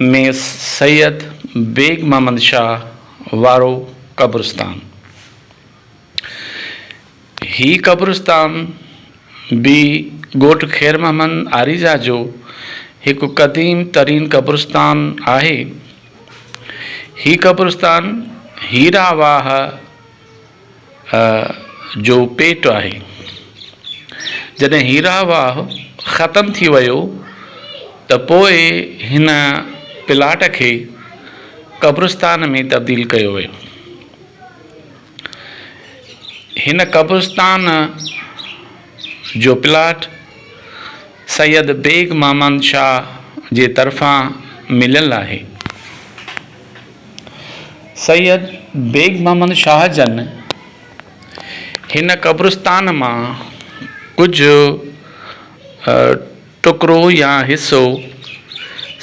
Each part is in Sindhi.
۾ سيد بيگ محمد شاهه وارو قبرستان. هي قبرستان به ڳوٺ خير محمد آريزا جو هڪ قديم ترين قبرستان آهي. هي قبرستان هيرا واهه، جو پيٽ آهي. جڏهن هيرا واهه ختم ٿي ويو ته پوء هن پلاٽ کي قبرستان ۾ تبديل ڪيو ويو. هن قبرستان جو پلاٽ سيد بيگ محمد شاهه جي طرفان مليل آهي. سيد بيگ محمد شاهه جن هن قبرستان مان ڪجهه ٽڪرو يا حصو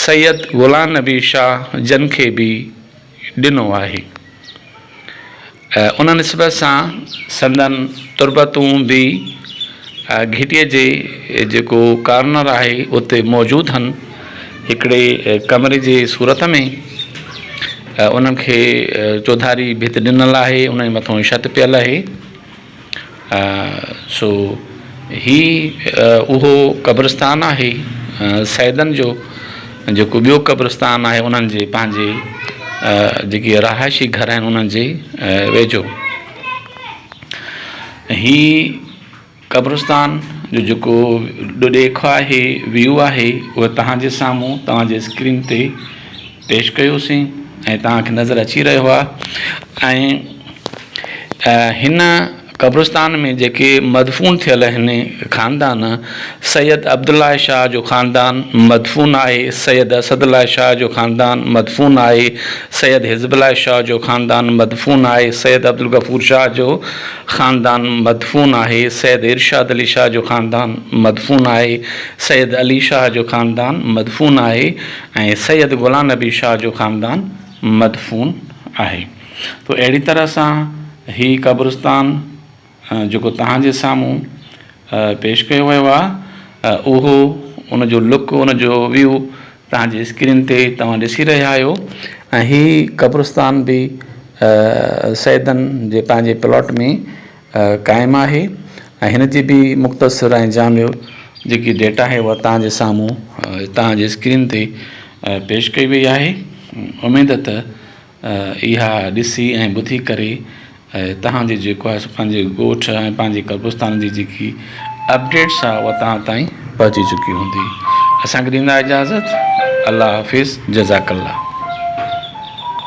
سيد غلام نبي شاهه جن کي به ڏنو آهي. ان نسبت سان سندن تربتون به گهٽيء جي جيڪو ڪارنر آهي اتي موجود هن، هڪڙي ڪمري جي صورت ۾، انهن کي چوڌاري ڀت ڏنل آهي، انهن جي مٿان ڇت پيل اهي. سو هي اهو قبرستان آهي سيدن جو جيڪو ٻيو قبرستان آهي انهن جي پنهنجي جيڪي رهائشي گهر آهن انهن جي ويجهو هي قبرستان جو جيڪو ڏيکو آهي ويو آهي اهو تهان جي سامهون تهان جي اسڪرين تي پيش ڪيوسين ۽ توهان کي نظر اچي رهيو آهي ۽ هن قبرستان ۾ جيڪي مدفون ٿيل آهن خاندان سيد عبدالله شاهه جو خاندان مدفون آهي سيد اسد الله شاهه جو خاندان مدفون آهي سيد حزب الله شاهه جو خاندان مدفون آهي سيد عبدالغفور شاهه جو خاندان مدفون آهي سيد ارشاد علي شاهه جو خاندان مدفون آهي سيد علي شاهه جو خاندان مدفون آهي ۽ سيد غلام نبي شاهه جو خاندان مدفون آهي تو اهڙي طرح سان هي قبرستان جيڪو توهان جي سامهون پيش ڪيو ويو آهي اهو ان جو لڪ ان جو ويو توهان جي اسڪرين تي توهان ڏسي رهيا آهيو ۽ هي قبرستان به سيدن جي پنهنجي پلاٽ ۾ قائم آهي ۽ هن جي به مختصر ۽ جامع جيڪي ڊيٽا آهي اها توهان جي سامهون توهان جي اسڪرين تي پيش ڪئي وئي آهي اميد ته اها ڏسي ۽ ٻڌي ڪري توهان جي جيڪو آهي سو پنهنجي ڳوٺ ۽ پنهنجي قبرستان جي جيڪي اپڊيٽس آهي اها توهان تائين پهچي چڪي هوندي اسان کي ڏيندا اجازت الله حافظ جزاڪ الله